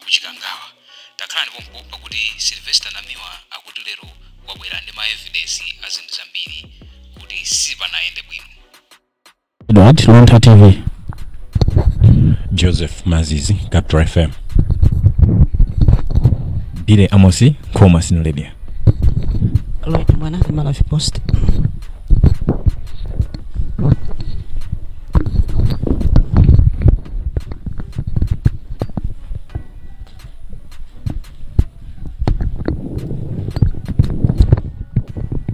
ku Chikangawa. Takhalani pompo pakuti a Sylvester Namiwa akuti lero wabwera ndi ma evidence a zinthu zambiri kuti sipanayende bwino. Edward Luntha TV. Joseph Mazizi, Capital FM. Billy Amosi, Nkhoma Synod Radio. Lloyd Mwana, the Malawi Post.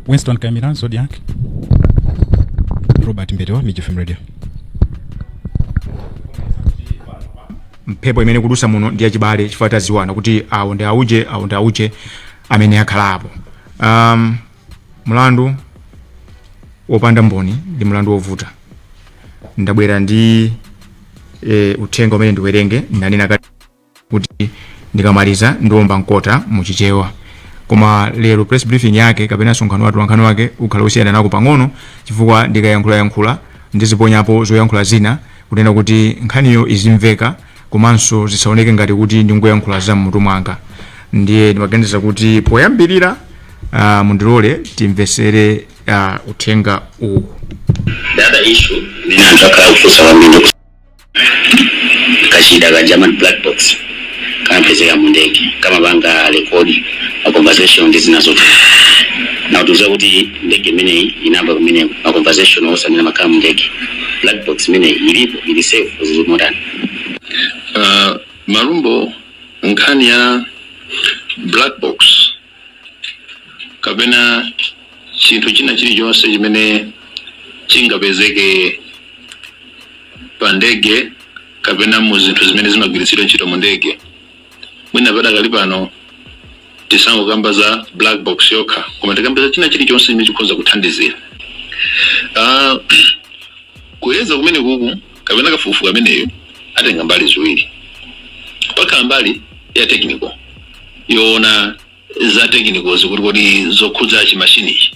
Winston Kamiran, Zodiac. Robert Mberewa, Miji FM Radio. mphepo imene ikudusa muno ndi yachibale chifukwa tadziwana kuti awo ndi auje awo ndi auje amene akhala apo um, mlandu wopanda mboni ndi mlandu wovuta ndabwera ndi e, uthenga umene ndiwerenge ndanena kale kuti ndikamaliza ndiomba mkota muchichewa koma lero press briefing yake kapena msonkhano wa atolankhani wake ukhala wosiyanako pang'ono chifukwa ndikayankhulayankhula Ndiziponyapo zoyankhula zina kunena kuti nkhaniyo izimveka komanso zisaoneke ngati kuti ndingoyankhula za m'mutu mwanga. Ndiye ndimaganiza kuti poyambirira ah, mundilole timvetsere ah, uthenga uwu. The other issue imene anthu akhala kufunsa kwambiri kachida kaja amati black box kamapezeka mu ndege kamapanga rekodi ma conversation ndi zina zote ndiye mutiuze kuti ndege imeneyi inali nako komwe ma conversation onse amene amakhala mu ndege black box imeneyi ilipo ili safe zili motani uh, Malumbo nkhani ya black box kapena chinthu china chilichonse chimene chingapezeke pa ndege kapena mu zinthu zimene zimagwiritsidwa ntchito mu ndege mwina padakali pano tisangokamba za black box yokha koma tikambe za china chilichonse chimene chikhoza kuthandizira Ah, kuyeza kumene kuku kapena kafukufuku ameneyu atenga mbali ziwiri pakhala mbali ya technical yoona za technicalities kuti kodi zokhudza chimashini ichi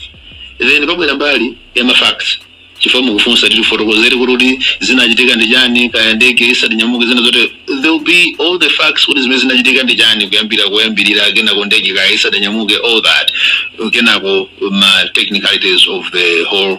then pabwera mbali ya mafacts chifukwa akufunsa atifotokozere kuti kuti zinachitika ndi chani kaya ndege isadanyamuke zina zote there will be all the facts kuti zimene zinachitika ndi chani kuyambira kuyambirira kenako ndege kaya isadanyamuke all that kenako ma technicalities of the whole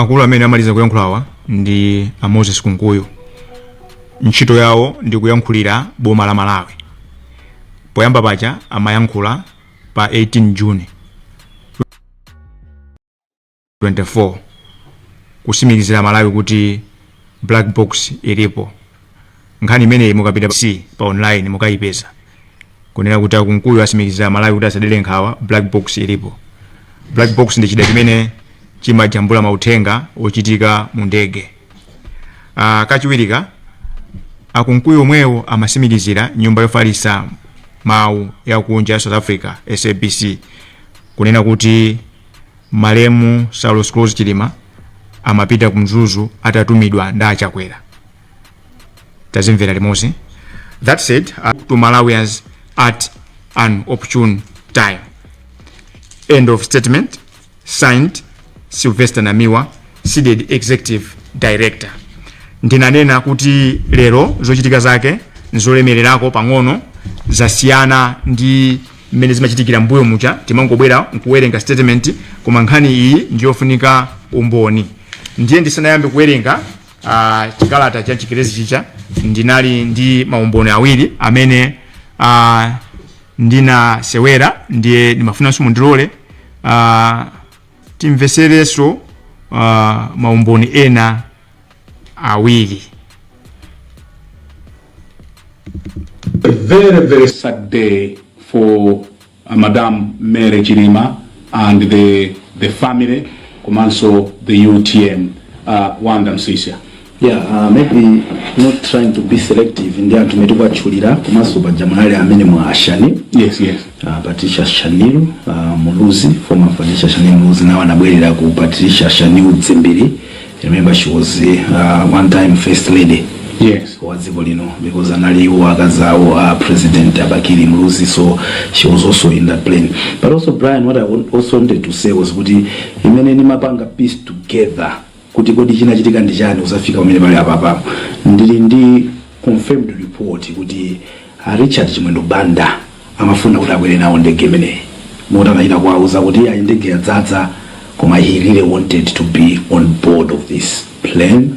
akulu amene amaliza kuyankhulawa ndi a moses kunkuyu ntchito yawo ndi kuyankhulira boma la malawi poyamba paja amayankhula pa 18 june 24 kusimikizira malawi kuti black box ilipo nkhani imeneyi mukapita c pa online mukayipeza kunena kuti akunkuyu asimikizira malawi kuti asadere nkhawa black box ilipo black box ndi chida chimene chimajambula mauthenga ochitika mu ndege uh, kachiwirika akunkuyu omwewo amasimikizira nyumba yofalisa mawu yakunja ya south africa sabc kunena kuti malemu saulos klaus chilima amapita ku mzuzu atatumidwa ndi achakwera tazimvera limodzi that said uh, to malawians at an opportune time end of statement signed sylvester namiwa cdedi executive director ndinanena kuti lero zochitika zake nzolemererako pang'ono zasiyana ndi mmene zimachitikira mbuyo muja timangobwera nkuwerenga statement koma nkhani iyi ndiyofunika umboni ndiye ndisanayambe kuwerenga uh, chikalata cha chingerezi chija ndinali ndi maumboni awiri amene uh, ndinasewera ndiye ndimafunanso mundilole uh, timvetserenso uh, maumboni ena awiri A very, very sad day for uh, Madam Mary Chilima and the, the family, Komanso, the UTM, uh, Wanda Msisya. Yeah, uh, maybe not trying to be selective ndi anthu amene tikuwatchulira komanso paja munali amene muja a shanil Yes, yes. uh, patricia shanil uh, muluzi former patricia shanil muluzi nawo anabwerera ku patricia shanil dzimbiri I remember she was uh, one time first lady yes wa dziko lino because anali iwo akazawo a president abakili muluzi so she was also in that plane but also brian what i wa- also wanted to say was kuti imene nimapanga piece together kuti kodi chinachitika ndi chani kuzafika pamene pali apapapo ndili ndi Confirmed report kuti a Richard Chimwendo Banda amafuna kuti akwere nawo ndege imeneyi moti anachita kuwauza kuti iyayi ndege yadzadza koma he really wanted to be on board of this plane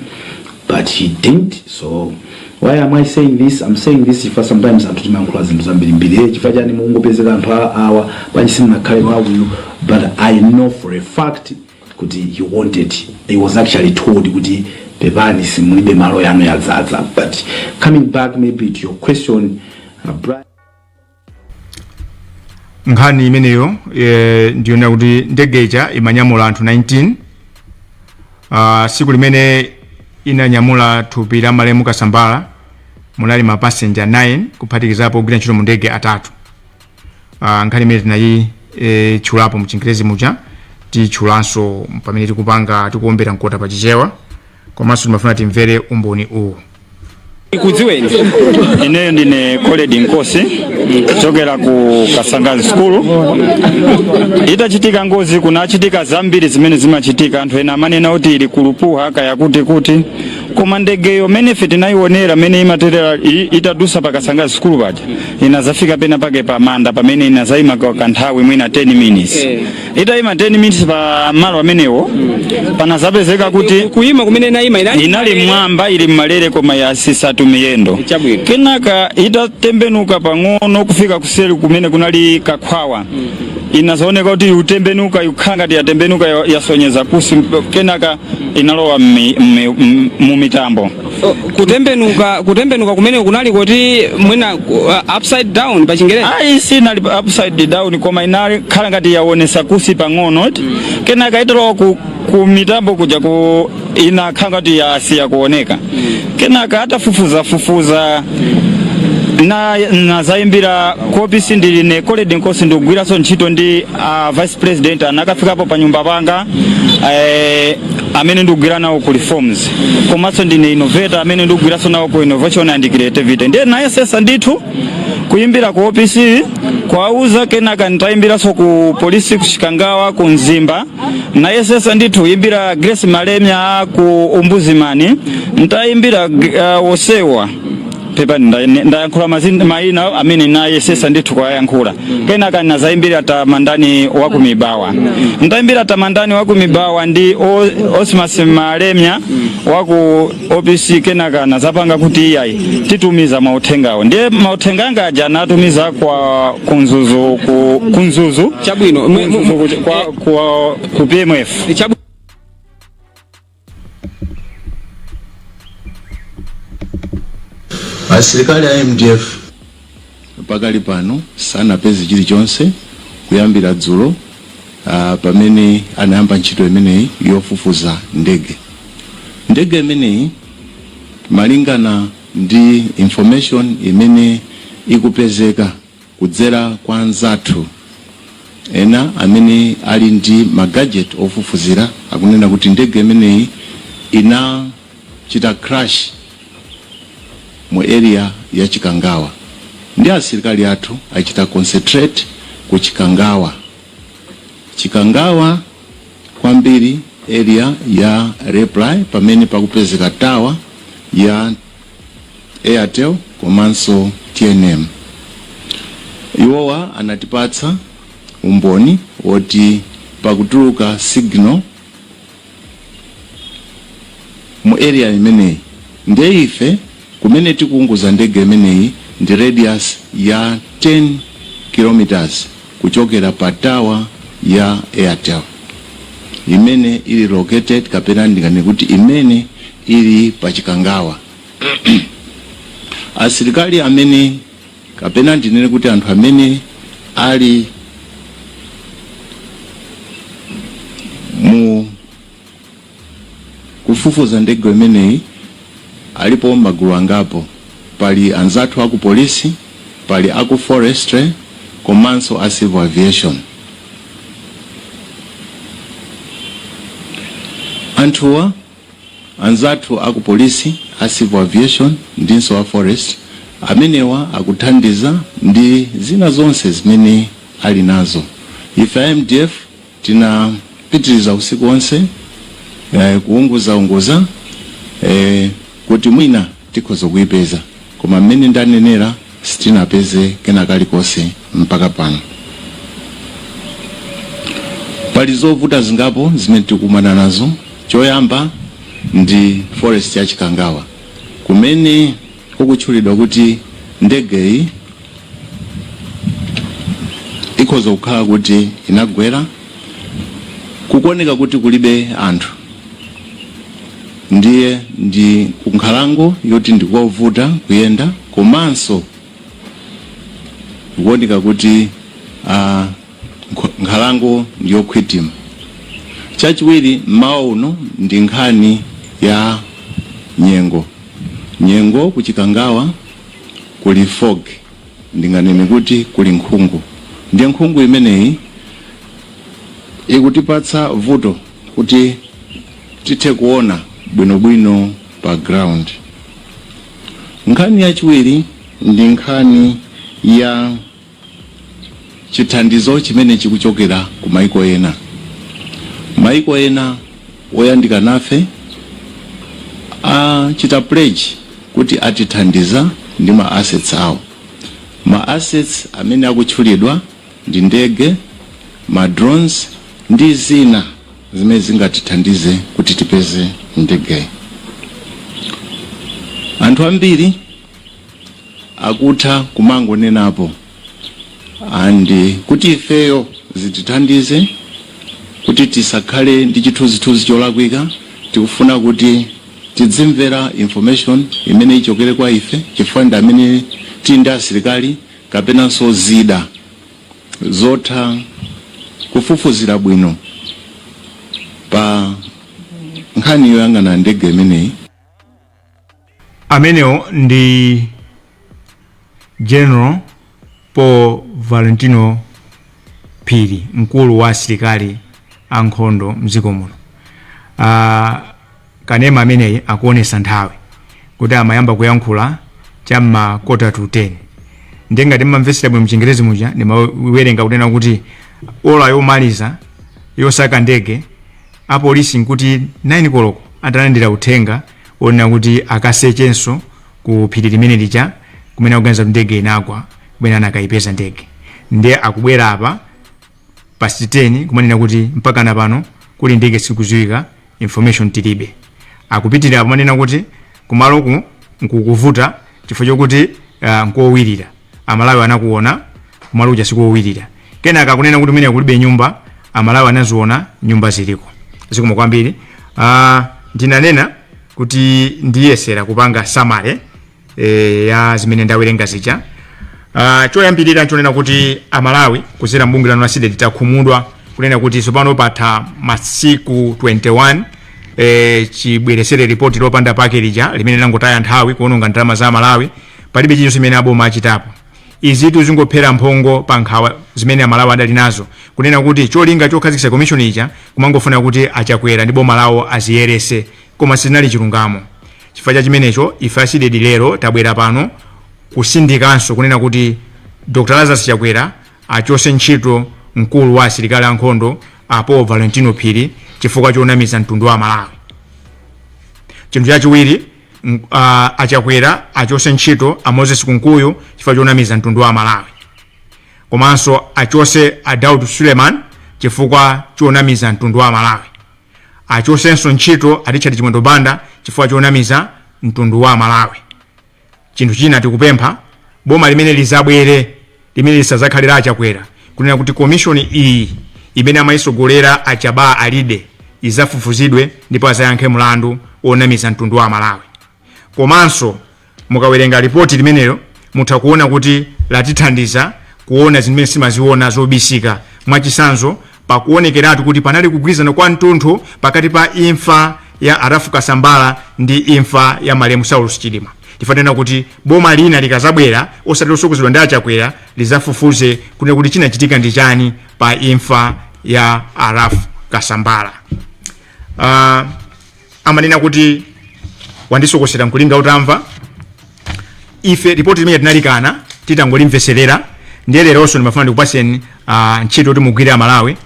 but he didn't so why am I saying this I'm saying this chifukwa sometimes anthu timayankhula zinthu zambirimbiri eh chifukwa chani mungopezeka anthu a- awa pansi munakhala wa akuyu but I know for a fact kuti he wanted he was actually told kuti pepani simulibe malo yanu yadzadza but coming back maybe to your question uh, Brian, nkhani imeneyo eh, ndiyonera kuti ndege ija imanyamula anthu 19 uh, tsiku limene inanyamula thupi la malemu kasambala munali mapasenja 9 kuphatikizapo ogwira ntchito mu ndege atatu uh, nkhani imene tinayi- e, tchulapo mchingerezi muja titchulanso pamene tikupanga tikuombera mkota pa chichewa komanso timafuna timvere umboni uwu tikudziweni ineyo ndine Colled Nkosi kuchokera ku Kasangazi sukulu itachitika ngozi kunachitika zambiri zimene zimachitika anthu ena amanena kuti iri kulupuha kaya kuti kuti koma ndegeyo mene ife tinayionera mene imaterera i- itadusa pa Kasangazi sukulu paja inazafika pena pake pa manda pamene inazayima ka- kanthawi mwina 10 minutes Eh. itayima 10 minutes pa malo amenewo panazapezeka kuti kuima kumene inaima inali inali mwamba ili mmalere koma yatsitsatu miyendo Chabwino. kenaka itatembenuka pang'ono kufika kuseri kumene kunali kakhwawa inazaoneka kuti kutembenuka ikukhala ngati yatembenuka ya- yasonyeza kunsi kenaka inalowa mmi- mmi- m- mu mitambo O, kutembenuka kutembenuka kumene kunali kuti mwina uh, upside down pa chingerezi ayi sinali pa upside down koma inakhala ngati yawonesa kunsi pang'ono eti kenaka italowa ku, ku mitambo kuja ku inakhala ngati yasiya kuoneka kenaka atafufuza fufuza na nazayimbira ku OPC ndili ine Colled Nkosi ndikugwiranso ntchito ndi a vice president anakafikapo pa nyumba panga eh, amene ndikugwira nawo ku reforms komanso ndine innovator amene ndikugwiranso nawo ku innovation and creativity ndiye nayesesa ndithu kuyimbira ku opc kuwauza kenaka nditayimbiranso ku polisi ku chikangawa ku mzimba nayesesa ndithu kuyimbira grace malemya ku ombudsman nditayimbira uh, osewa pepani nda- ne- ndayankhula mazin- mayina amene nayesesa ndithu kuwayankhula kenaka nazayimbira Tamandani waku Mibawa ndayimbira Tamandani waku Mibawa ndi O- osmas malemya waku opc kenaka nazapanga kuti iyayi titumiza mauthengawo ndiye mauthenga anga aja natumiza kwa ku Mzuzu ku, ku Mzuzu chabwino mwe- mwe- ku Mzuzu ku- kwa, kwa, ku pmf chabwino asilikali a mdf pakali pano sanapeze chilichonse kuyambira dzulo ah, pamene anayamba ntchito imeneyi yofufuza ndege ndege imeneyi malingana ndi information imene ikupezeka kudzera kwa anzathu ena amene ali ndi ma gadget ofufuzira akunena kuti ndege imeneyi inachita crash mu area ya Chikangawa ndi asilikali athu achita concentrate ku Chikangawa Chikangawa kwambiri area ya Raiply pamene pakupezeka tower ya Airtel komanso tnm. Iwowa anatipatsa umboni woti pakutuluka signal mu area imeneyi nde ife kumene tikuunguza ndege imeneyi ndi radius ya 10 kilometers. kuchokera pa tower ya Airtel imene ili located kapena ndinganene kuti imene ili pa Chikangawa. Asilikali amene kapena ndinene kuti anthu amene ali mu kufufuza ndege imeneyi alipo magulu angapo, pali anzathu aku polisi, pali aku forestry komanso a civil aviation. Anthuwa, anzathu aku polisi, a civil aviation ndinso a forest, amenewa akuthandiza ndi zina zonse zimene ali nazo. Ife a mdf. Tinapitiriza usiku onse eh, kuunguzaunguza eh, kuti mwina tikhoza kuipeza koma mmene ndanenera sitinapeze kena kalikonse mpaka pano pali zovuta zingapo zimene tikukumana nazo choyamba ndi forest ya chikangawa kumene kukutchulidwa kuti ndegeyi ikhoza kukhala kuti inagwera kukuoneka kuti kulibe anthu ndiye ndi kunkhalango yoti ndikovuta kuyenda komanso kukuoneka kuti uh, Nkhalango ndi yokhwithima. Chachiwiri mmawa uno ndi nkhani ya nyengo. Nyengo ku Chikangawa kuli fog, ndinganene kuti kuli nkhungu. Ndiye nkhungu imeneyi ikutipatsa vuto kuti tithe kuona bwinobwino pa ground. Nkhani yachiwiri ndi nkhani ya. chithandizo chimene chikuchokera ku maiko ena. Maiko ena oyandika nafe achita pledge kuti atithandiza ndi ma assets awo. Ma assets amene akutchulidwa ndi ndege, ma drones ndi zina zimene zingatithandize kuti tipeze ndege. Anthu ambiri akutha kumangonenapo and kuti ifeyo zitithandize kuti tisakhale ndi chithunzithunzi cholakwika tikufuna kuti tidzimvera information imene ichokere kwa ife chifukwa ndi amene tili ndi asilikali kapenanso zida zotha kufufuzira bwino pa nkhani yoyang'ana ndege imeneyi amenewo ndi general paul valentino phiri mkulu wa asilikali ankhondo mdziko muno uh, kanema ameneyi akuonesa nthawi kuti amayamba kuyankhula cha ma quarter to 10 ndiye ngati mmamvetsera bwino mchingerezi muja ndimawerenga kunena kuti ola yomaliza yosaka ndege Apolisi nkuti 9 koloko atalandira uthenga wonena kuti akasechenso ku phiri limene lija kumene akuganiza kuti ndege inagwa kumene anakaipeza ndege ndiye akubwera apa past 10 kumanena kuti mpaka na pano kuli ndege sikuziwika information tilibe akupitirira kumanena kuti kumaloku nkukuvuta chifukwa chokuti uh, nkowirira amalawi anakuona kumalo kuja sikowirira kenaka akunena kuti mmene kulibe nyumba amalawi anaziona nyumba ziliko zikomo kwambiri uh, ndinanena kuti ndiyesera kupanga summary e, ya zimene ndawerenga zija uh, choyambirira nchonena kuti amalawi kuzera mbungwe lanu la cdedi takhumudwa kunena kuti tsopano patha masiku 21 e, chibweresere ripoti lopanda pake lija limene langotaya nthawi kuononga ndalama za amalawi palibe chilichonse chimene aboma achitapo Izitu zingophera mphongo pa nkhawa zimene Amalawi adali nazo kunena kuti cholinga chokhazikitsa komishoni ija kumangofuna kuti a Chakwera ndi boma lawo aziyeretse koma sichinali chilungamo. Chifukwa cha chimenecho, ife a Cdedi lero tabwera pano kusindikanso kunena kuti Dr Lazarus Chakwera achose ntchito mkulu wa asilikali a nkhondo a Paul Valentino Phiri chifukwa chonamiza mtundu wa Amalawi. Chinthu chachiwiri, M- ah, a chakwera achose ntchito a moses kunkuyu chifukwa chonamiza mtundu wa malawi komanso achose a daud suleiman chifukwa chonamiza mtundu wa malawi achosenso ntchito a richard chimwendo banda chifukwa chonamiza mtundu wa malawi chinthu china tikupempha boma limene lizabwere Limene lisazakhale la a chakwera kunena kuti commission iyi imene amayisogolera a jabbar alide izafufuzidwe ndipo azayankhe mlandu onamiza mtundu wa amalawi komanso mukawerenga ripoti limenelo mutha kuona kuti latithandiza kuona zimene simaziona zobisika mwachisanzo Pakuonekeratu kuti panali kugwirizana kwa mtunthu pakati pa imfa ya a Ralph Kasambara ndi imfa ya malemu Saulos Chilima chifukwa tinena kuti boma lina likazabwera osati lotsogozedwa ndi a Chakwera lizafufuze kunena kuti chinachitika ndi chani pa imfa ya a Ralph Kasambala. Uh, amanena kuti wandisokosera n'kulinga utamva ife ripoti limene tinalikana titangolimveserera ndiye lelonso ndimafuna ndikupaseni uh, ntchito kuti mugwire amalawi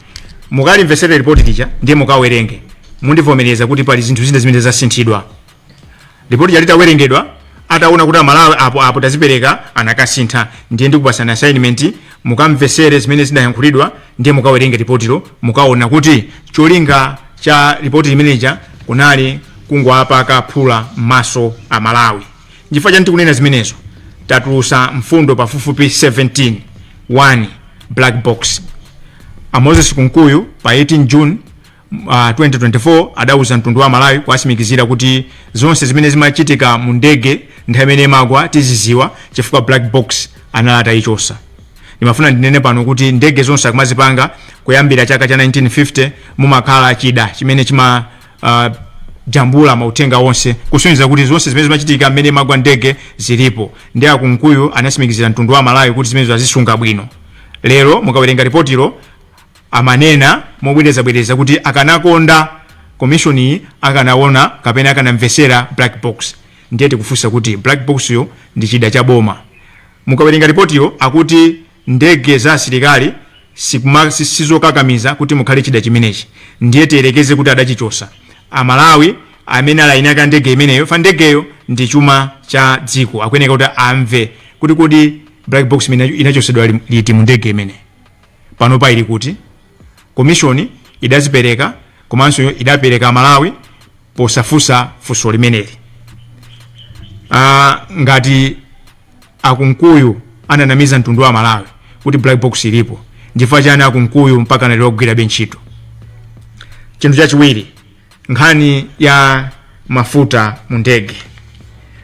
mukalimveserera ripoti lija ndiye mukawerenge mundivomereza kuti pali zinthu zina zimene zasinthidwa ripoti lija litawerengedwa ataona kuti amalawi apo apo tazipereka anakasintha ndiye ndikupasani assignment mukamvesere zimene zidayankhulidwa ndiye mukawerenge ripotilo mukaona kuti cholinga cha ripoti limeneja kunali kungowapaka phula m'maso amalawi nchifukwa chani tikunena zimenezo tatulusa mfundo pafupifupi 17 1 black box a moses kunkuyu pa 18 june uh, 2024 adauza mtundu wa amalawi kuwasimikizira kuti zonse zimene zimachitika mu ndege nthawi imene imagwa tiziziwa chifukwa black box anali atayichosa ndimafuna ndinene pano kuti ndege zonse akumazipanga kuyambira chaka cha 1950 mumakhala chida chimene chima uh, jambula mauthenga onse kusonyeza kuti zonse zimene zimachitika mmene imagwa ndege zilipo ndi akunkuyu anasimikizira mtundu wa amalawi kuti zimenezo azisunga bwino lero mukawerenga ripotilo amanena mobwerezabwereza kuti akanakonda komishoniyi akanaona kapena akanamvesera black box ndiye tikufunsa kuti black boxyo ndi chida cha boma mukawerenga ripotilo akuti ndege za asilikali sikuma- si- sizokakamiza kuti mukhale chida chimenechi ndiye tiyerekeze kuti adachichosa amalawi amene ali eni ake a ndege imeneyo fa ndegeyo ndi chuma cha dziko akuyeneka kuti amve kuti kodi black box imene inachosedwa li- liti mu ndege imeneyo panopa ili kuti komishoni idazipereka komanso idapereka amalawi posafunsa funso limeneli Ah, ngati akunkuyu ananamiza mtundu wa amalawi kuti black box ilipo nchifukwa chani akunkuyu mpaka nalero akugwirabe ntchito chinthu chachiwiri nkhani ya mafuta mu ndege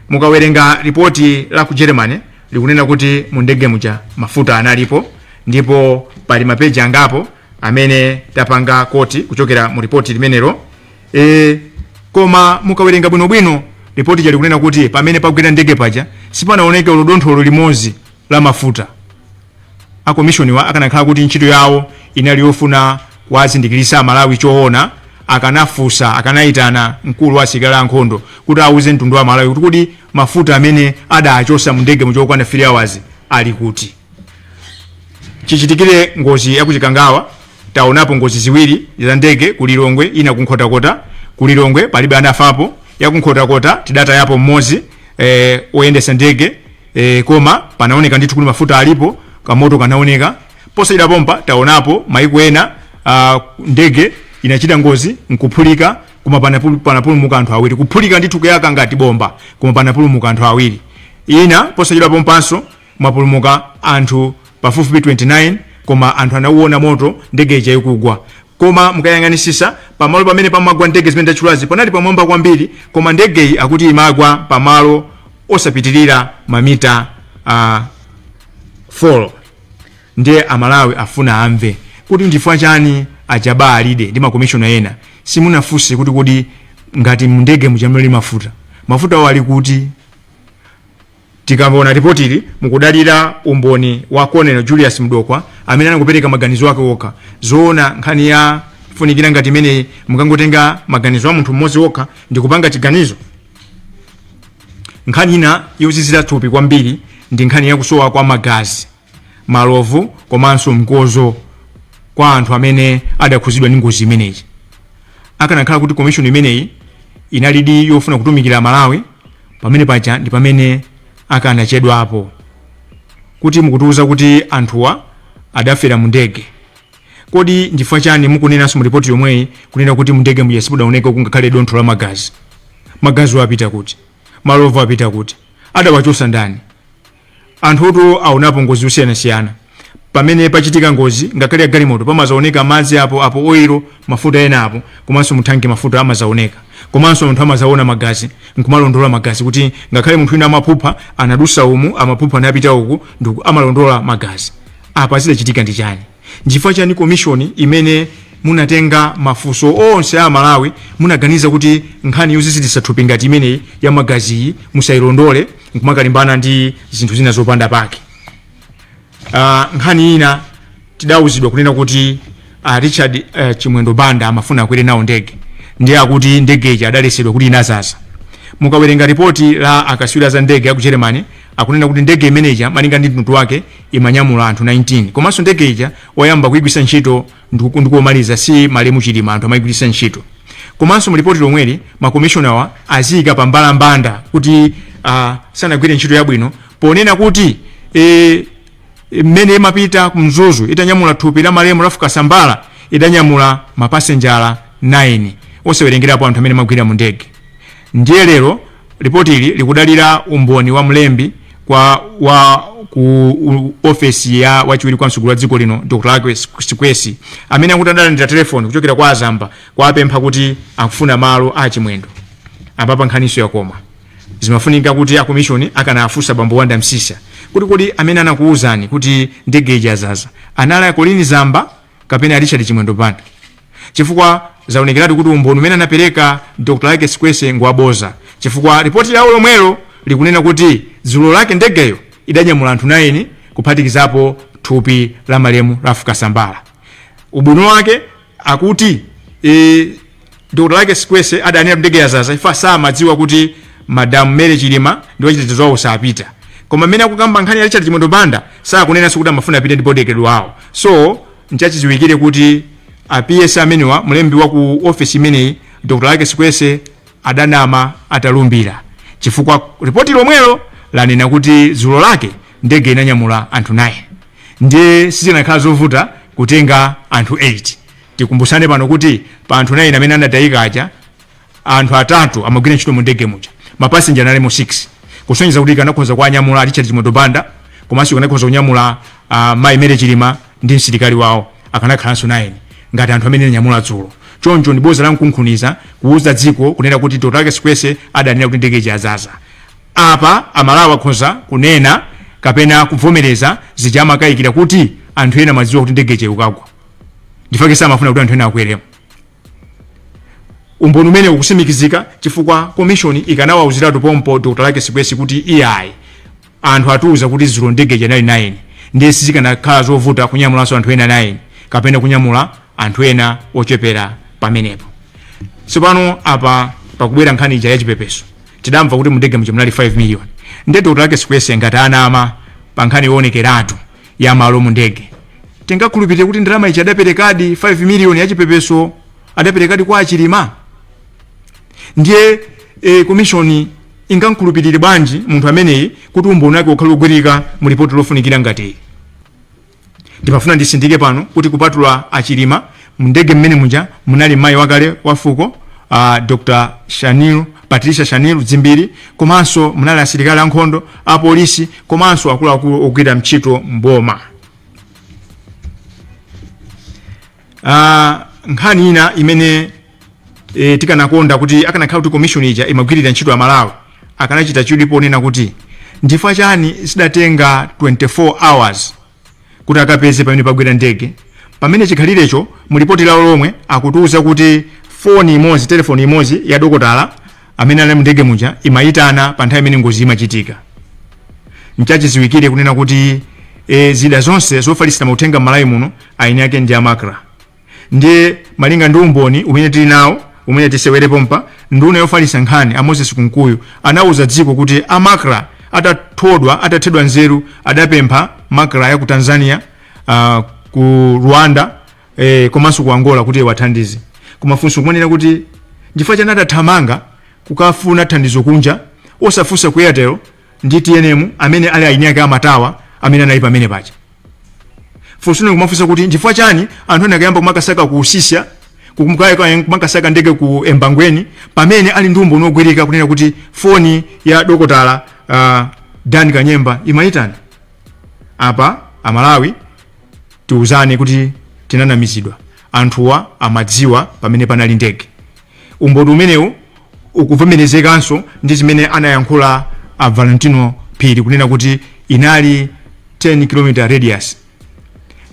mukawerenga ripoti la ku germany likunena kuti mu ndege muja mafuta analipo ndipo pali mapeji angapo amene tapanga koti kuchokera mu ripoti limenelo e, koma mukawerenga bwinobwino ripoti lija likunena kuti pamene pagwera ndege paja sipanaoneke olo dontho limodzi la mafuta a komishoniwa akanakhala kuti ntchito yawo inali yofuna kuwazindikiritsa Amalawi choona, akanafunsa, akanaitana mkulu wa asilikali a nkhondo kuti auze mtundu wa Amalawi kuti kodi mafuta amene adaachotsa mundege muja okwana 3 hours ali kuti. Chichitikire ngozi ya ku Chikangawa, taonapo ngozi ziwiri za ndege ku Lilongwe, ina ku Nkhotakota. Ku Lilongwe palibe anafapo, ya ku Nkhotakota tidatayapo mmodzi eh, woyendetsa ndege e, koma panaoneka ndithu kuti mafuta alipo kamoto kanaoneka posachedwa pompa taonapo maiko ena uh, ndege inachita ngozi nkuphulika koma panapulu- panapulumuka anthu awiri kuphulika ndithu kuyaka ngati bomba koma panapulumuka anthu awiri ina posachedwa pompanso mwapulumuka anthu pafupifupi 29 koma anthu anauona moto ndege ija ikugwa Koma mukayang'anisisa pamalo pamene pamagwa ndege zimene ndachulazi panali pamwamba kwambiri koma ndegeyi akuti imagwa pamalo osapitilira mamita uh, 4 ndiye amalawi afuna amve kuti ndifukwa chani a Jabbar Alide ndi makomishona ena simunafunse kuti kodi ngati mndege muja munali mafuta mafuta awo ali kuti Tikamaona lipotili mukudalira umboni wa Colonel Julius Mdokhwe amene anangopereka maganizo ake okha. Zoona nkhani yofunikira ngati imeneyi mukangotenga maganizo a munthu mmodzi okha ndi kupanga chiganizo? Nkhani ina yozizira thupi kwambiri ndi nkhani ya kusowa kwa magazi. malovu komanso mkozo kwa anthu amene adakhuzidwa ndi ngozi imeneyi akanakhala kuti komishoni imeneyi inalidi yofuna kutumikira malawi pamene paja ndi pamene akanachedwapo kuti mukutiuza kuti anthuwa adafera mu ndege kodi ndifukwa chani mukunenanso mu ripoti yomweyi kunena kuti mundege muja simudaoneka kungakhale dontho la magazi magazi apita kuti malovu apita kuti adawachosa ndani Anthutu aonapo ngozi zosiyanasiyana. Pamene pachitika ngozi, ngakhale ya galimoto, pamazaoneka madzi apo apo, oil, mafuta ena apo, komanso muthanki mafuta amazaoneka. Komanso anthu amazaona magazi, nkumalondola magazi kuti ngakhale munthu wina amaphupha, anadusa umu, amaphupha anapita uku, ndiku, amalondola magazi. Apa zidachitika ndi chani? Nchifukwa chani komishoni imene munatenga mafunso onse a amalawi munaganiza kuti nkhani yoziziritsa thupi ngati imeneyi ya magaziyi musayilondole nkumakalimbana ndi zinthu zina zopanda pake? Uh, nkhani ina tidauzidwa kunena kuti uh, Richard uh, Chimwendo Banda amafuna akwere nawo ndege ndiye akuti ndege ija adalesedwa kuti inazaza. Mukawerenga ripoti la akatswiri za ndege aku Germany Akunena kuti ndege imene ija malinga ndi mtundu wake imanyamula anthu 19 komanso ndege ija oyamba kuigwiritsa ntchito ndiku- ndikomaliza si malemu chilima anthu amaigwiritsa ntchito komanso mulipoti lomweli makomishonawa aziyika pa mbalambanda kuti uh, sanagwire ntchito yabwino ponena kuti eh, mmene imapita ku mzuzu itanyamula thupi la malemu Ralph Kasambala idanyamula mapasenjala 9 osawerengerapo anthu amene amagwira mu ndege ndiye lero Lipotili likudalira umboni wa mlembi kwa wa ku u- ofesi ya wachiwiri kwa mtsogoleri wa dziko lino dr Luckie Sikwese amene akuti adalandira telefoni kuchokera kwa a Zamba kuwapempha kuti akufuna malo a chimwendo apapa nkhaniso yakoma zimafunika kuti akomishoni akanafunsa bambo wanda msisa kuti kodi amene anakuwuzani kuti ndege ija yazaza anali a Colleen Zamba kapena Richard Chimwendo Banda chifukwa zaonekeratu kuti umboni umene anapereka Dr. Luckie Sikwese ngwaboza chifukwa ripoti lawo lomwelo likunena kuti dzulo lake ndegeyo idanyamula anthu 9 kuphatikizapo thupi la malemu Ralph Kasambala ubwino wake akuti e, Dr. Luckie Sikwese adanena ndege yazaza chifukwa samadziwa kuti Madam Mary Chilima ndi wachitetezo wawo sapita. Koma mmene akukamba nkhani ya Richard Chimwendo Banda sakunenanso kuti amafuna apite ndi bodyguard wawo. So nchachidziwikire kuti a PS amenewa mlembi wa ku office imeneyi Dr. Luckie Sikwese adanama atalumbira chifukwa ripoti lomwelo lanena kuti dzulo lake ndege inanyamula anthu 9 ndiye sizinakhala zovuta kutenga anthu 8 Tikumbutsane pano kuti pa anthu 9 amene anatayika aja, anthu atatu amagwira ntchito mu ndege muja. Ma passenger analimo 6. Kusonyeza kuti ikanakhoza kuwanyamula a Richard Chimwendo Banda komanso ikanakhoza kunyamula ah, Mayi Mary Chilima ndi msilikali wawo akanakhalanso 9 ngati anthu amene ananyamula dzulo. Choncho ndi bodza la mkunkhuniza kuwuza dziko kunena kuti Dr. Luckie Sikwese adanena kuti ndege ija yazaza. Apa Amalawi akhoza kunena kapena kuvomereza zija amakayikira kuti anthu ena amadziwa kuti ndege ija ikukagwa. ndifake samafuna kuti anthu ena akweremo umboni umene ukusimikizika chifukwa komishoni ikanawauziratu pompo dr Luckie Sikwese kuti iyayi anthu atiuza kuti dzulo ndege ija inali 9 ndiye sizikanakhala zovuta kunyamulanso anthu ena 9 kapena kunyamula anthu ena ochepera pamenepo tsopano apa pakubwera nkhani ija yachipepeso tidamva kuti mundege muja munali 5 million nde dr Luckie Sikwese ngati anama pa nkhani yoonekeratu ya malo mu ndege tingakhulupirire kuti ndalama ija adaperekadi 5 miliyoni ya chipepeso adaperekadi kwa achilima ndiye e, komishoni ingamkhulupirire bwanji munthu ameneyi kuti umboni wake ukhale wogwirika mu lipoti lofunikira ngati iyi ndimafuna ndisindike pano kuti kupatula achilima Mu ndege mmene muja munali mayi wakale wa fuko uh, Dr. Shanil Patricia Shanil Dzimbiri komanso munali asilikali ankhondo, apolisi komanso akuluakulu ogwira ntchito m'boma. Uh, nkhani ina imene e, tikanakonda kuti akanakhala kuti commission ija imagwirira ntchito Amalawi akanachita chidwi ponena kuti nchifukwa chani zidatenga 24 hours kuti akapeze pamene pagwera ndege pamene chikhalirecho mu lipoti lawo lomwe akutiuza kuti foni imodzi telefoni imodzi ya dokotala amene anali m'ndege muja imayitana pa nthawi imene ngozi imachitika nchachiziwikire kunena kuti e, zida zonse zofalitsira mauthenga m'malawi muno eni ake ndi a Macra Ndiye malinga ndi umboni umene tili nawo umene tisewere pompa, nduna yofalitsa nkhani a Moses Kunkuyu anauza dziko kuti a Macra atathodwa, atathedwa nzeru adapempha Macra ya ku Tanzania, ah, ku Rwanda eh, komanso ku Angola kuti iwathandize. Koma funso nkumanena kuti nchifukwa chani adathamanga kukafuna thandizo kunja osafunsa ku Airtel ndi TNM amene ali eni ake amatawa amene anali pamene paja. funso nkumafunsa kuti nchifukwa chani anthu anakayamba kumakasaka ku Usisya kukumkaya kumakasaka ndege ku Embangweni pamene ali ndi umboni wogwirika kunena kuti foni ya dokotala uh, Dan Kanyemba imayitana apa Amalawi tiuzane kuti tinanamizidwa anthuwa amadziwa pamene panali ndege Umboni umenewu ukuvomerezekanso ndi zimene anayankhula a Valentino Phiri kunena kuti inali 10 km radius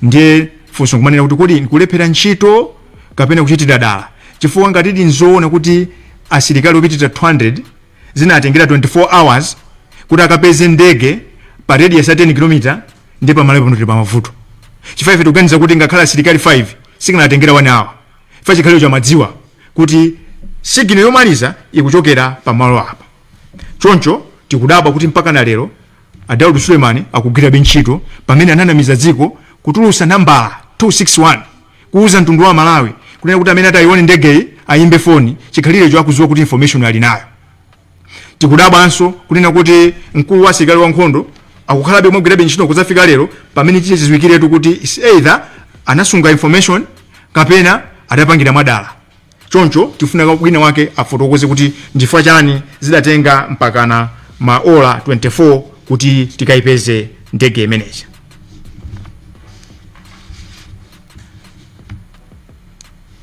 ndiye funso nkumanena kuti kodi nkulephera ntchito kapena kuchitira dala chifukwa ngati ndi zoona kuti asilikali opitira 200 zinatengera 24 hours kuti akapeze ndege pa radius ya 10 km ndiye pa Malawi pano tili pamavuto chifukwa ife tikuganiza kuti ngakhale asilikali 5 sizikanatengera 1 hour fa chikhalirecho amadziwa kuti signal yomaliza ikuchokera pamalo apa choncho tikudabwa kuti mpaka na lero a Daud Suleman akugwirabe ntchito pamene ananamiza dziko kutulusa nambala 261 kuuza mtundu wa Amalawi kunena kuti amene atayione ndegeyi ayimbe foni chikhalirecho akudziwa kuti information ali nayo tikudabwanso kunena kuti mkulu wa asilikali ankhondo akukhalabe mogwirabe ntchito kuzafika lero pamene chite chidziwikiretu kuti is either anasunga information kapena adapangira mwadala choncho tifuna wina wake afotokoze kuti nchifukwa chani zidatenga mpakana maola 24 kuti tikayipeze ndege imene ija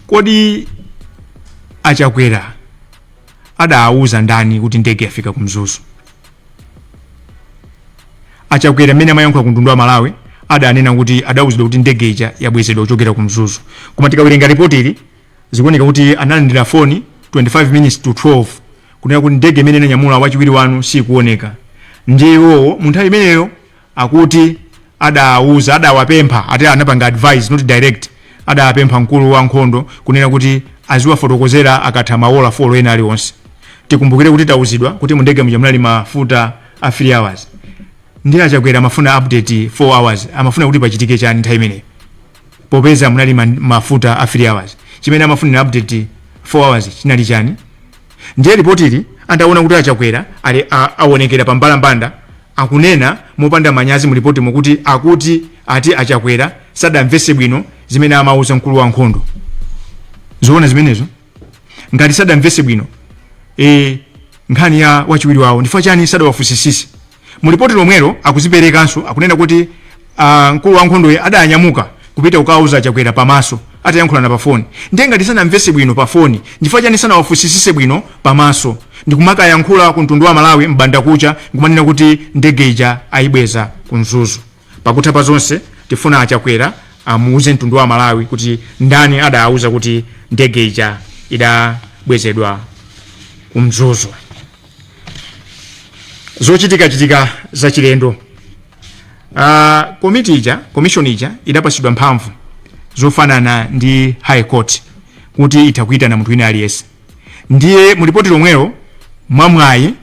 kodi a Chakwera adawuza ndani kuti ndege yafika ku mzuzu a chakwera mmene amayankhula ku mtundu wa amalawi adanena kuti adawuzidwa kuti ndege ija yabwezedwa kuchokera ku mzuzu koma tikawerenga ripoti ili zikuoneka kuti analandira foni 25 minutes to 12 kunena kuti ndege imene inanyamula wachiwiri wanu sikuoneka ndiye iwowo mu nthawi imeneyo akuti adawuza adawapempha ati anapanga advise not direct adawapempha mkulu wa nkhondo kunena kuti aziwafotokozera akatha mawola folo ena aliwonse tikumbukire kuti tawuzidwa kuti mundege muja munali mafuta a 3 hours ndiye a chakwera amafuna update 4 hours amafuna kuti pachitike chani nthawi imeneyo popeza munali ma- mafuta a 3 hours chimene amafunira update 4 hours chinali chani ndiye lipotili ataona kuti a chakwera ali a- aonekera pa mbalambanda akunena mopanda manyazi mulipoti momuti akuti ati a chakwera sadamvese bwino zimene amauza mkulu wa nkhondo zoona zimenezo ngati sadamvese bwino e, nkhani ya wachiwiri wawo ndifukwa chani sadawafunsisise mu lipoti lomwelo akuziperekanso akunena kuti ah, mkulu wa nkhondoyo adanyamuka kupita kukauza chakwera pamaso atayankhulana pa foni ndiye ngati sanamvese bwino pa foni ndifukwa chani sanawafunsisise bwino pamaso ndikumakayankhula ku mtundu wa amalawi m'bandakucha ndikumanena kuti ndege ija ayibweza ku mzuzu Pakutha pa zonse tifuna a Chakwera amuuze mtundu wa Amalawi kuti ndani adawauza kuti ndege ija idabwezedwa ku Mzuzu. Zochitikachitika zachilendo. Uh, komiti ija commission ija idapasidwa mphamvu zofanana ndi high court kuti itha kuitana munthu wina aliyense ndiye mulipoti lomwelo mwamwayi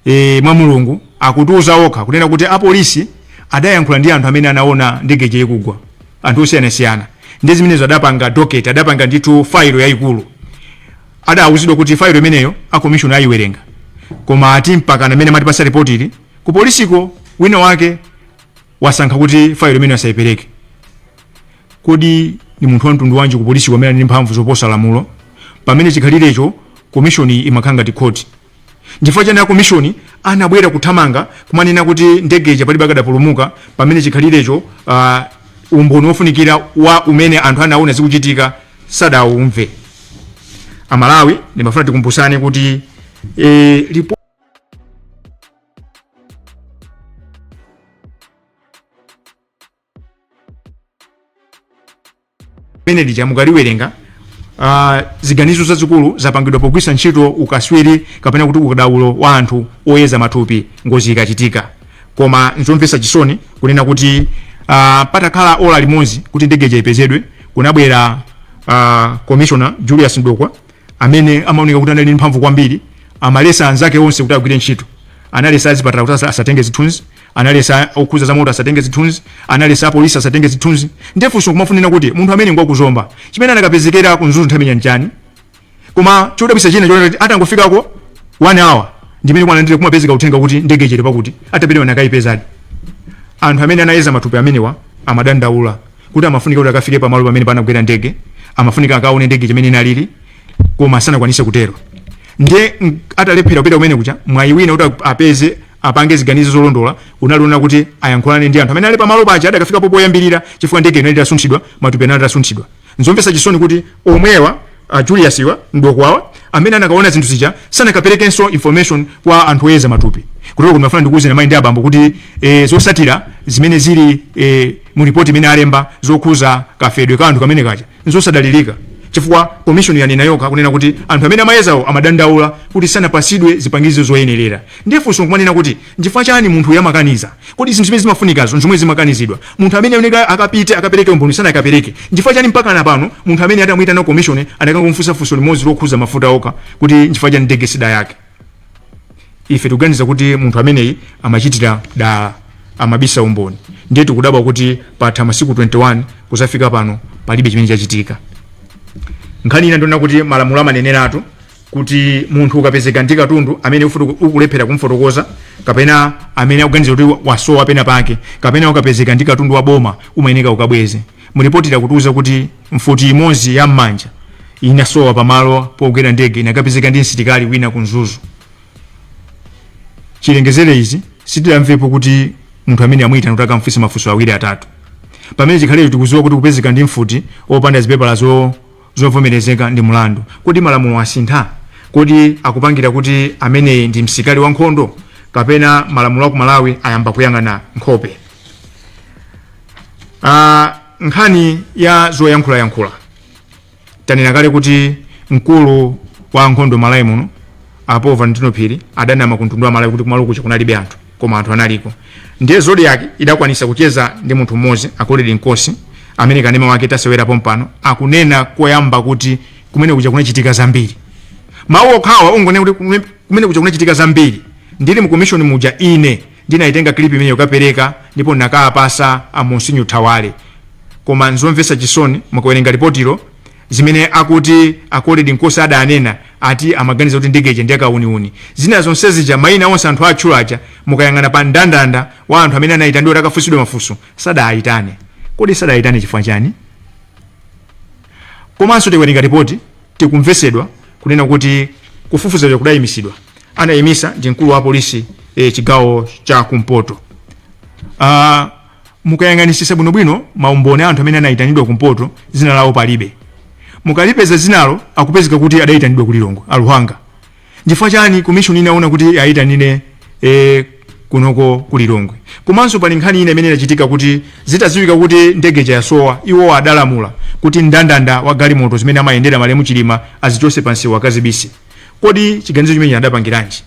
e, mwa Mulungu akutiuza okha kunena kuti apolisi adayankhula ndi anthu amene anaona ndege ija ikugwa anthu osiyanasiyana ndi zimenezo adapanga docket adapanga ndithu failo yayikulu adawuzidwa kuti failo imeneyo akomishoni ayiwerenga koma ati mpaka mmene amatipasa ripoti ili ku polisiko wina wake wasankha kuti failo imeneyo asayipereke kodi ni munthu wa mtundu wanji ku polisiko amene ali ndi mphamvu zoposa lamulo pamene chikhalirecho komishoni imakhala ngati khoti Nchifukwa chani akomishoni anabwera kuthamanga kumanena kuti ndege ija palibe akadapulumuka pamene chikhalirecho uh, umboni wofunikira wa mmene anthu anaona zikuchitika sadaumve? Amalawi ndimafuna tikumbusane kuti eh, lipo limene lija mukaliwerenga uh, ziganizo zazikulu zapangidwa pogwiritsa ntchito ukaswiri kapena kuti ukadaulo wa anthu oyeza matupi ngozi ikachitika koma nzomvetsa chisoni kunena kuti uh, patakhala ola limodzi kuti ndege ija ipezedwe kunabwera uh, commissioner julius mdokwa amene amaoneka kuti anali ndi mphamvu kwambiri amalesa anzake onse kuti agwire ntchito analesa azipatala kuti asa- asatenge zithunzi analesa okhuza zamoto asatenge zithunzi analesa apolisi asatenge zithunzi nde funso kumafunira kuti munthu amene ngwa ku zomba chimene anakapezekera ku mzuzu nthawi imeneyi nchani koma chodabwisa china chonena kuti atangofikako one hour ndimene kwanandire kumapezeka uthenga kuti ndege ija ili pakuti atapita anakayipezadi anthu amene anayeza matupi amenewa amadandaula kuti amafunika kuti akafike pamalo pamene panagwera ndege amafunika akaone ndege chimene inalili koma sanakwanise kutero ndiye mm, atalephera kupita kumene kuja mwayi wina kuti apeze apange ziganizo zolondola unali onena kuti ayankhulane ndi anthu amene ali pamalo paja adakafikapo poyambirira chifukwa ndege inali itasunthidwa matupi anali atasunthidwa nzomvetsa chisoni kuti omwewa a julius wa mdokwawa amene anakaona zinthu zija sanakaperekenso information kwa anthu oyeza matupi kutero kuti ndimafuna ndikuwuzeni mayi ndi abambo kuti e, zosatira zimene zili e, mu ripoti imene alemba zokhuza kafedwe ka anthu kamene kaja Nzosadalilika chifukwa commission yanena yokha kunena kuti anthu amene amayezawo amadandaula kuti sanapasidwe zipangizo zoyenelera. Ndiye funso nkumanena kuti nchifukwa chani munthu uyu amakaniza? Kodi zinthu zimene zimafunikazo nzomwe zimakanizidwa? Munthu amene ayeneleka akapite akapeleke umboni sanakapeleke? Nchifukwa chani mpakana pano munthu amene adamuitana commission adakangomufunsa funso limodzi lokhuza mafuta okha kuti nchifukwa chani ndege sidayake? ife tikuganiza kuti munthu ameneyi amachitira dala amabisa umboni ndiye tikudabwa kuti patha masiku 21 kuzafika pano palibe chimene chachitika nkhani ina ndi yonena kuti malamulo amaneneratu kuti munthu ukapezeka ndi katundu amene ufutu- ukulephera kumfotokoza kapena amene akuganiza kuti wasowa pena pake kapena ukapezeka ndi katundu wa boma umayeneka ukabweze mulipotili akutiuza kuti mfuti imodzi ya m'manja inasowa pamalo pogwera ndege inakapezeka ndi msilikali wina ku mzuzu chilengezere izi sitinamvepo kuti munthu amene amuyitana kuti akamfunse mafunso awiri atatu pamene chikhalecho tikuziwa kuti kupezeka ndi mfuti opanda zipepala zo zovomerezeka ndi mulandu kodi malamulo asintha kodi akupangira kuti amene ndi msikali wa nkhondo kapena malamulo aku malawi ayamba kuyang'ana nkhope Ah, nkhani ya zoyankhulayankhula tanena kale kuti mkulu wa nkhondo malawi muno a paul valentino phiri adanama ku mtundu wa malawi kuti kumalo kuja kunalibe anthu koma anthu analiko ndiye zodiak idakwanisa kucheza ndi munthu mmodzi a colrerd nkosi amene kanema wake tasewera pompano akunena koyamba kuti kumene kuja kunachitika zambiri mawu okhawa ongonena kuti kume- kumene kuja kunachitika zambiri ndili mu commission muja ine Ndinaitenga clip imeneyi kukapeleka ndipo ndinakapasa a Monsinyo Thawale koma nzomvesa chisoni mukawerenga ripotilo zimene akuti a Koledi Nkosi adanena ati amaganiza kuti ndege ija ndi ya kauniuni zina zonse zija maina onse anthu atchula aja mukayang'ana pa mndandanda wa anthu amene anayitanidwa kuti akafunsidwe mafunso sadaayitane kodi sadaayitane chifukwa chani komanso tikawerenga ripoti tikumvesedwa kunena kuti kufufuza kuja kudayimisidwa anayimisa ndi mkulu wa polisi e, chigawo cha kumpoto uh, mukayang'anisisa bwinobwino maumboni a anthu amene anayitanidwa kumpoto zina lawo palibe mukalipeza zinalo akupezeka kuti adayitanidwa ku Lilongwe a Luhanga chifukwa chani komishoni inaona kuti ayitanire e, kunoko ku Lilongwe komanso pali nkhani ina imene inachitika kuti zitaziwika kuti ndege ija yasowa iwo adalamula kuti mndandanda wa galimoto zimene amayendera malemu Chilima azichose pamsewu akazibise kodi chiganizo chimenechi adapangiranji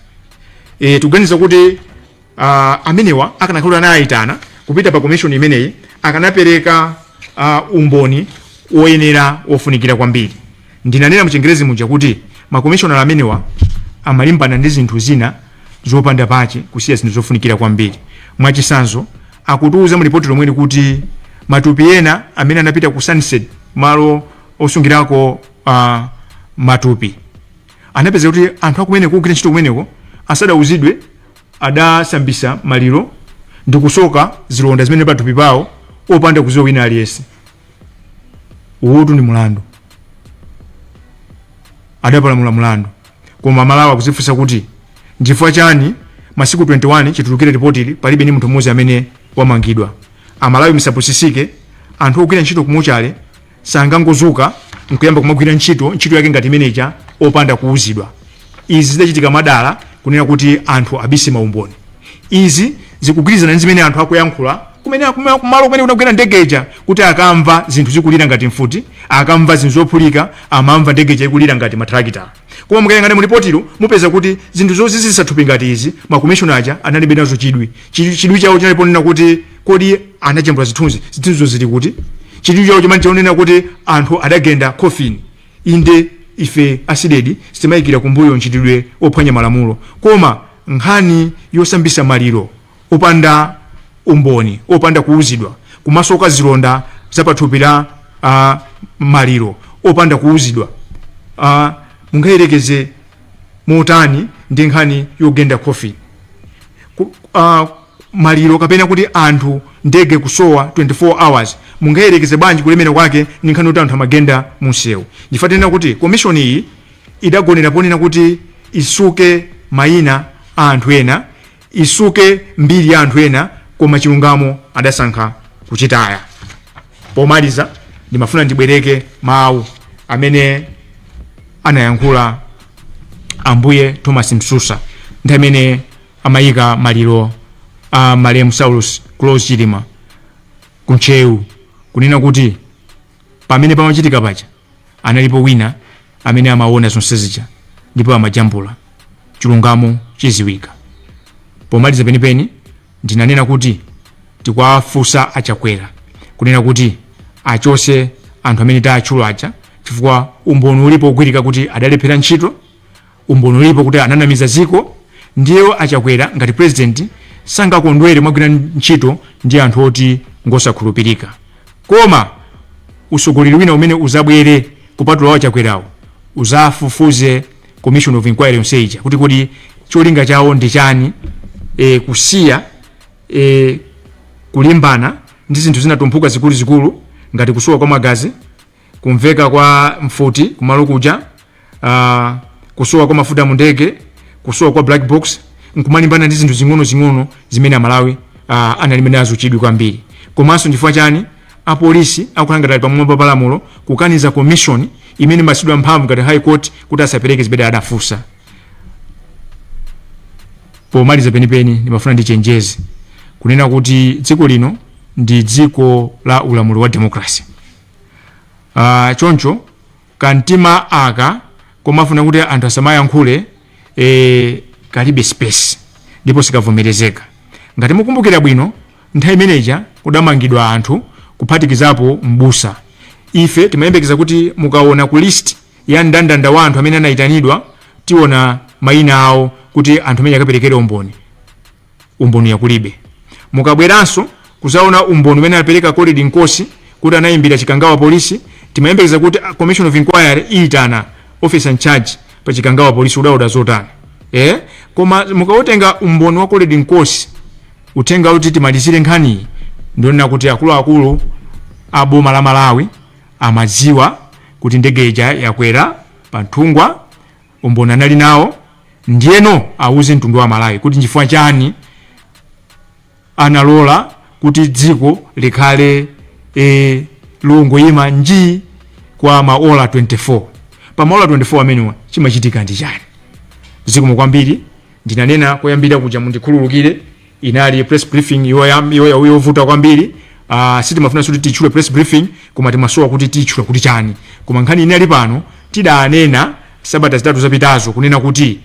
e, tikuganiza kuti uh, amenewa akanakhala anayitana kupita pa komishoni imeneyi akanapereka uh, umboni woyenera wofunikira kwambiri ndinanena mu Chingerezi muja kuti makomishonala amenewa amalimbana ndi zinthu zina zopanda pache kusiya zinthu zofunikira kwambiri mwachisanzo akutiuza mu lipoti lomweli kuti matupi ena amene anapita ku Sunset malo osungirako a matupi anapeza kuti anthu akumeneko ogwira ntchito kumeneko asadauzidwe adasambisa maliro ndi kusoka zilonda zimene pathupi pawo opanda kuziwa wina aliyense uwotu ndi mulandu adapalamula mulandu koma Amalawi akuzifunsa kuti nchifukwa chani masiku 21 chitulukire ripotili palibe ni munthu mmodzi amene wamangidwa Amalawi musapusisike anthu ogwira ntchito ku mochale sangangozuka nkuyamba kumagwira ntchito ntchito yake ngati imene ija opanda kuuzidwa izi zidachitika mwadala kunena kuti anthu abise maumboni izi zikugwirizana ndi zimene anthu akuyankhula kumene kuma- kumalo kumene kunagwera ndegeja kuti ankamva zinthu zikulira ngati mfuti ankamva zinthu zophulika amamva ndegeja ikulira ngati matrakitala koma mukayang'ana mulipotilo mupeza kuti zinthu zozizisa thupi ngati izi makomishona aja analibe nazo chidwi Chi- chidwi chawo chinali ponena kuti kodi iye anajambula zithunzi zithunzizo zili kuti chidwi chawo chinali chonena kuti anthu adagenda coffin inde ife a CDEDI sitimayikira kumbuyo mchitidwe ophwanya malamulo koma nkhani yosambisa maliro opanda umboni opanda kuwuzidwa kumasoka zilonda zapathupi la uh, maliro opanda kuwuzidwa uh, mungayerekeze motani ndi nkhani yogenda coffin Ku- ah, maliro kapena kuti anthu ndege kusowa 24 hours mungayerekeze bwanji kulemera kwake ndi nkhani yoti anthu amagenda munsewu chifukwa tinena kuti komishoni iyi idagonera ponena kuti isuke mayina a anthu ena isuke mbiri ya anthu ena koma chilungamo adasankha kuchitaya pomaliza ndimafuna ndibwereke mawu amene anayankhula ambuye thomas msusa ndi amene amaika maliro a malemu saulos klaus chilima ku ntcheu kunena kuti pamene pamachitika paja analipo wina amene amaona zonse zija ndipo amajambula chilungamo chiziwika pomaliza penipeni ndinanena kuti tikwafunsa achakwera kunena kuti achose anthu amene taatchula aja chifukwa umboni ulipo ogwirika kuti adalephera ntchito Umboni ulipo kuti ananamiza dziko ndiye a Chakwera ngati president sangakondwere mwagwira ntchito ndi anthu oti ngosakhulupirika. Koma usogoleri wina umene uzabwere kupatula wa Chakwerawo uzafufuze commission of inquiry yonse ija kuti kodi cholinga chawo ndi chani e, kusiya e, kulimbana ndi zinthu zinatumphuka zikuluzikulu ngati kusowa kwa magazi kumveka kwa mfuti kumalo kuja uh, kusowa kwa mafuta mu ndege kusowa kwa black box nkumalimbana ndi zinthu zing'onozing'ono zimene amalawi uh, analibe nazo chidwi kwambiri komanso chifukwa chani apolisi akukhala ngati ali pamwamba pa lamulo kukaniza commission imene imapasidwa mphamvu ngati high court kuti asapereke zimene adafunsa pomaliza penipeni ndimafuna ndichenjeze kunena kuti dziko lino ndi dziko la ulamuliro wa democracy uh, choncho kamtima aka komafuna kuti anthu asamayankhule e, kalibe space ndipo sikavomerezeka ngati mukumbukira bwino nthawi imeneja kudamangidwa anthu kuphatikizapo mbusa ife timayembekeza kuti mukaona ku list ya mndandanda wa anthu amene anayitanidwa tiona mayina awo kuti anthu amene akaperekere umboni umboni ya kulibe mukabweranso kuzaona umboni umene anapereka colrerd nkosi kuti anayimbira chikangawa polisi timayembekeza kuti commission of inquiry iyitana officer in charge pa chikangawa polisi udauda zotani eh? koma mukautenga umboni wa colrerd nkosi uthenga kuti timalizire nkhaniyi ndionena kuti akuluakulu a boma la malawi amadziwa kuti ndege ija yagwera pa nthungwa umboni anali nawo ndiyeno auze mtundu wa amalawi kuti nchifukwa chani analola kuti dziko likhale e, longoyima njii kwa maola 24 pa maola 24 amenewa chimachitika ndi chani zikomo kwambiri ndinanena koyambira kuja mundikhululukire inali press briefing yoyam- yoya- yovuta kwambiri uh, sitimafuna kuti titchule press briefing koma timasowa kuti titchule kuti chani koma nkhani inali pano tidanena sabata zitatu zapitazo kunena kuti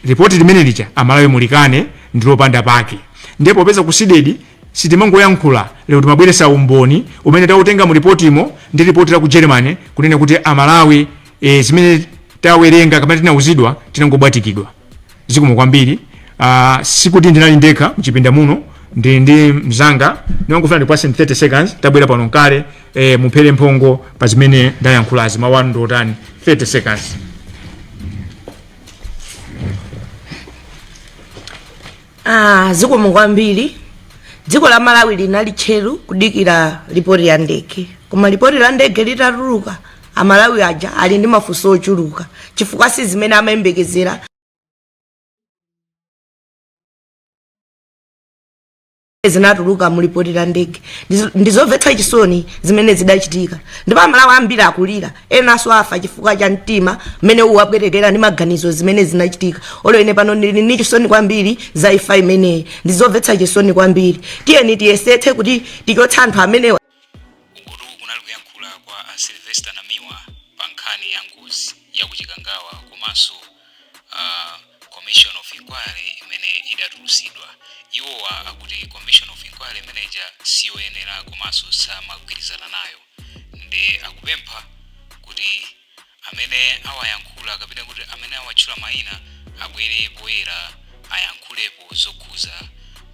ripoti limene lija amalawi mulikane ndilopanda pake ndiye popeza ku CDEDI sitimangoyankhula lero timabweretsa umboni umene tautenga mu ripotimo ndi ripoti la ku germany kunena kuti amalawi e, zimene tawerenga kapena tinauzidwa tinangobwatikidwa zikomo kwambiri uh, sikuti ndinali ndekha mchipinda muno ndili ndi mzanga ndimangofuna ndikupatse 30 seconds tabwera pano ndi kale eh, muphere mphongo pa zimene ndayankhulazi mawu anu ndiotani 30 seconds Ah, zikomo kwambiri dziko la malawi linali tcheru kudikira lipoti la ndege koma lipoti la ndege litatuluka amalawi aja ali ndi mafunso ochuluka chifukwa si zimene amayembekezera zinatuluka mu lipoti la ndege Ndizo- ndizomvetsa chisoni zimene zidachitika ndipo amalawi ambiri akulira enanso afa chifukwa cha mtima mmene ukuwapwetekera ndi maganizo zimene zinachitika olo ine pano ndili ndi chisoni kwambiri za imfa imeneyi ndizomvetsa chisoni kwambiri tiyeni tiyesetse kuti tichotse anthu amenewa uku kunali kuyankhula kwa a sylvester namiwa pa nkhani ya ngozi ya ku chikangawa komanso uh, commission of inquiry imene idatulusidwa iwowa akuti commission of inquiry imeneja siyoyenera komanso samagwirizana nayo ndipo akupempha kuti amene awayankhula kapena kuti amene awatchula mayina abwere poyera ayankhulepo zokhudza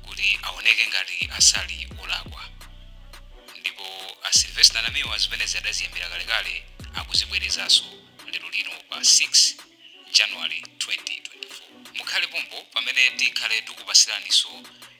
kuti aoneke ngati sali olakwa ndipo a sylvester namiwa zimene adaziyambira kalekale akuzibwerezanso lero lino pa 6 january 2024 mukhale pompo pamene tikhale tikupatsiraninso